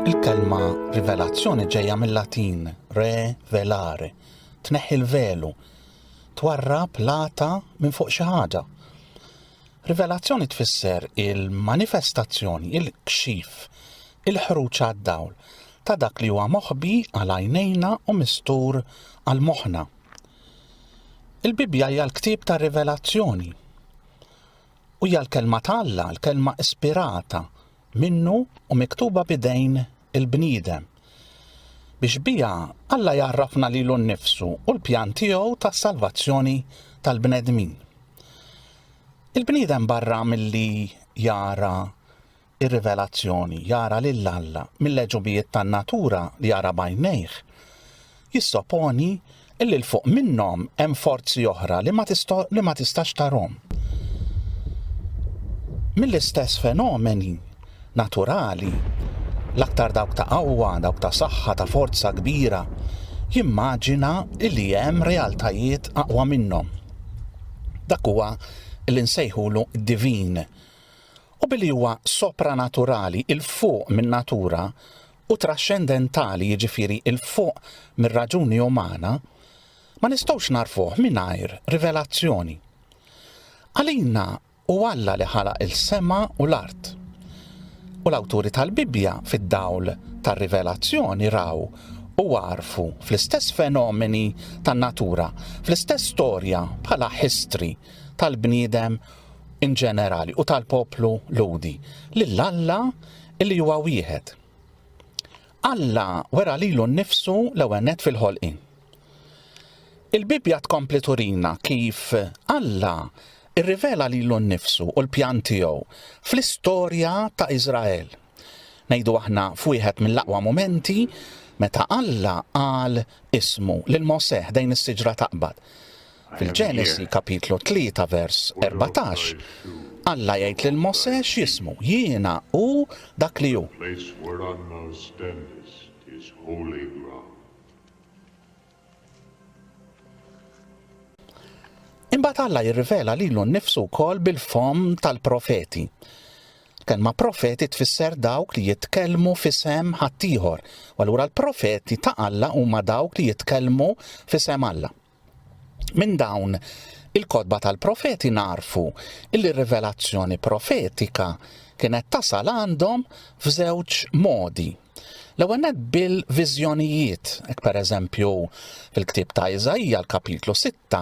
Il-kelma rivelazzjoni ġejja mill-Latin re velare, tneħħi l-velu, twarrab lata minn fuq xi ħaġa. Rivelazzjoni tfisser il-manifestazzjoni, il-kxif, il-ħruġ għad-dawl ta' dak li huwa moħbi għal għajnejna u mistur għal moħħna. Il-Bibbja hija l-ktieb ta' rivelazzjoni. U hija l-Kelma ta' Alla, l-Kelma ispirata minnu u miktuba b'idejn il-bniedem, biex biha Alla jgħarrafna lilu nnifsu u l-pjan tiegħu tas-salvazzjoni tal-bnedmin. Il-bniedem barra milli jara ir-rivelazzjoni, jara lil Alla mill-għeġubijiet tan-natura li jara bajnejh, jissoponi illi l-fuq minnhom hemm forzi oħra li ma tistax tarhom. Mill-istess fenomeni naturali, l-aktar dawk ta' qawwa, dawk ta' saħħa, ta' forza kbira, jimmaġina illi hemm realtajiet aqwa minnhom. Dak huwa li nsejħulu divin u billi huwa sopranaturali, 'il fuq min-natura, u traxxendentali, jiġifieri 'il fuq mir-raġuni umana, ma nistgħux nagħrfuh mingħajr rivelazzjoni. Għalina hu Alla li ħalaq is-sema u l-art. U l-awturi tal-Bibbja, fid-dawl tar-rivelazzjoni, raw u għarfu fl-istess fenomeni tan-natura, fl-istess storja bħala history tal-bniedem in ġenerali u tal-poplu Lhudi lil Alla li huwa wieħed. Alla wera lilu nnifsu l-ewwel nett fil-ħolqien. Il-Bibbja tkompli turina kif Alla irrivela lilu nnifsu u l-pjan tiegħu fl-istorja ta' Iżrael. Ngħidu aħna f'wieħed mill-aqwa mumenti meta Alla qal ismu lil Mosè ħdejn is-siġra taqbad. Fil-Ġenesi, kapitlu 3 vers 14, Alla jgħid lil Mosè x'jismu, Jiena hu dak li hu. Imbagħad Alla jirrivela lilu nnifsu wkoll bil-fomm tal-profeti. Kelma profeti tfisser dawk li jitkellmu f'isem ħaddieħor, u allura l-profeti ta' Alla huma dawk li jitkellmu f'isem Alla. Minn dawn il-kotba tal-profeti narfu illi r-rivelazzjoni profetika kienet tasal għandhom f'żewġ modi. L-ewwel bil-viżjonijiet, hekk pereżempju fil-ktieb ta' Iżajja l-kapitlu 6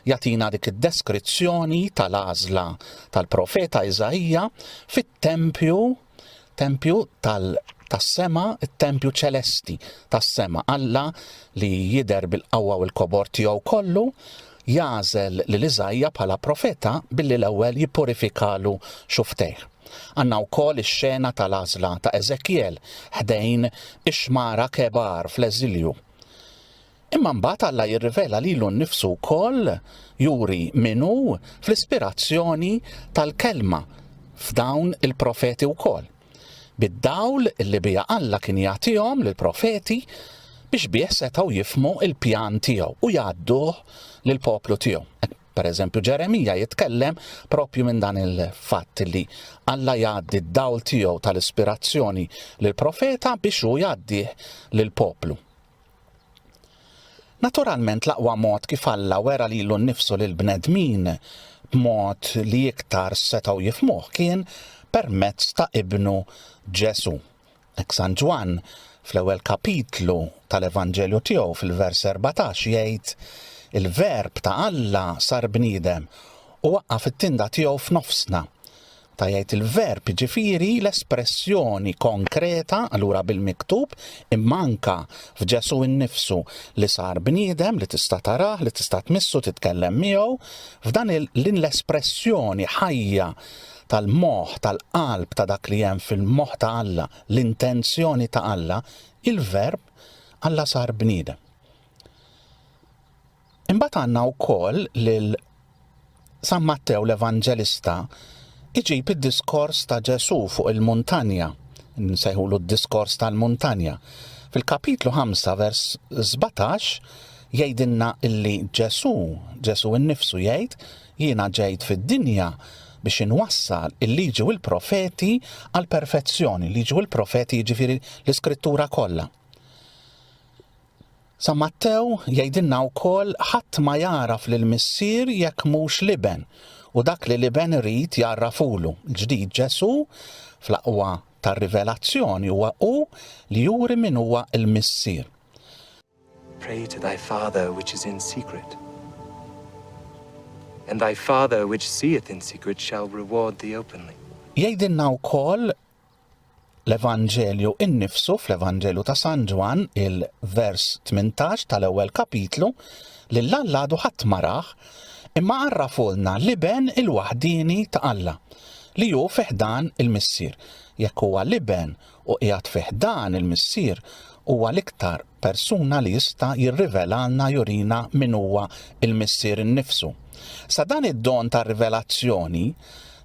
jagħtina dik id-deskrizzjoni tal-għażla tal-profeta Iżajja fit-tempju Tempju tal tas-sema, it-tempju ċelesti tas-sema. Alla li jidher bil-qawwa u l-kobor tiegħu kollu, jagħżel lil Iżajja bħala profeta billi l-ewwel jippurifikalu xuftejh. Għandna wkoll ix-xena tal-għażla ta' Eżekjel ħdejn ix-xmara Kebar fl-eżilju. Imma mbagħad Alla jirrivela lilu nnifsu wkoll, juri min hu, fl-ispirazzjoni tal-Kelma f'dawn il-profeti wkoll, bid-dawl li biha Alla kien jagħtihom lill-profeti biex bih setgħu jifhmu l-pjan tiegħu u jgħadduh lill-poplu tiegħu. Pereżempju, Ġeremija jitkellem proprju minn dan il-fatt li Alla jgħaddi d-dawl tiegħu tal-ispirazzjoni lill-profeta biex hu jgħaddih lill-poplu. Naturalment l-aqwa mod kif Alla wera lilu nnifsu lill-bnedmin b'mod li iktar setgħu jifhmuh kien permezz ta' Ibnu Ġesù. Hekk San Ġwann, fl-ewwel kapitlu tal-Evanġelju tiegħu fil-vers 14 jgħid, Il-Verb ta' Alla sar bniedem u waqqa' fit-tinda tiegħu f'nofsna. ta' jgħid il-verb, jiġifieri l-espressjoni konkreta, allura bil-miktub, imma anke f'Ġesù nnifsu li sar bniedem, li tista' tarah, li tista' tmissu, titkellem miegħu, f'dan din l-espressjoni ħajja tal-moħħ, tal-qalb ta' dak li hemm fil-moħħ ta' Alla, l-intenzjoni ta' Alla, il-verb Alla sar bniedem. Imbagħad għandna wkoll lil San Mattew l-Evanġelista jġib id-diskors ta' Ġesù fuq il-muntanja, nsejħulu d-diskors tal-muntanja. Fil-kapitlu 5 vers 17 jgħidilna illi Ġesù, Ġesù innifsu jgħid, jiena ġejt fid-dinja biex inwassal il-liġi u l-profeti għal perfezzjoni, liġi u l-profeti jiġifieri l-iskrittura kollha. San Mattew jgħidilna wkoll ħadd ma jagħraf lill-Missier jekk mhux l-Iben, u dak li l-Iben irid jgħarrafulu. Il-ġdid Ġesù, fl-aqwa tar-rivelazzjoni huwa hu li juri min huwa l-Missier. Pray to thy Father which is in secret, and thy Father which seeth in secret shall reward thee openly. Jgħidilna wkoll l-Evanġelju innifsu fl-Evanġelju ta' San Ġwan il-vers 18 tal-ewwel kapitlu li l-alladu ħadd maraħ imma għarrafulna l-iben il-waħdini ta' Alla li hu fiħdan il-missier. Jekk huwa l-iben u qiegħed fiħdan il-missier huwa l-iktar persuna li jista' jirrivelalna jurina min huwa l-Missier innifsu. Sa dan id-don tar-rivelazzjoni,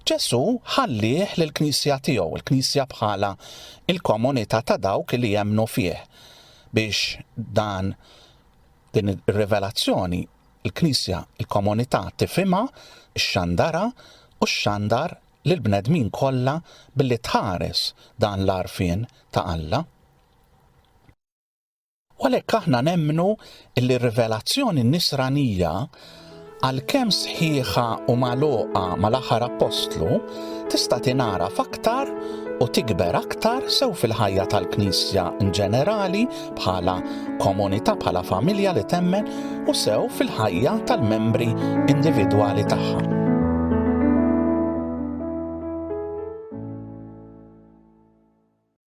Ġesù ħallieh lill-Knisja tiegħu, il-Knisja bħala l-komunità ta' dawk li jemmnu fih, biex dan din ir-rivelazzjoni l-Knisja, il-komunità tifhimha, xxandarha u xxandar lill-bnedmin kollha billi tħares dan l-għarfien ta' Alla. U għalhekk aħna nemmnu li r-rivelazzjoni nisranija għalkemm sħiħa u magħluqa mal-aħħar appostlu tista' tingħaraf aktar u tikber aktar sew fil-ħajja tal-Knisja in ġenerali bħala komunità bħala familja li temmen u sew fil-ħajja tal-membri individwali tagħha.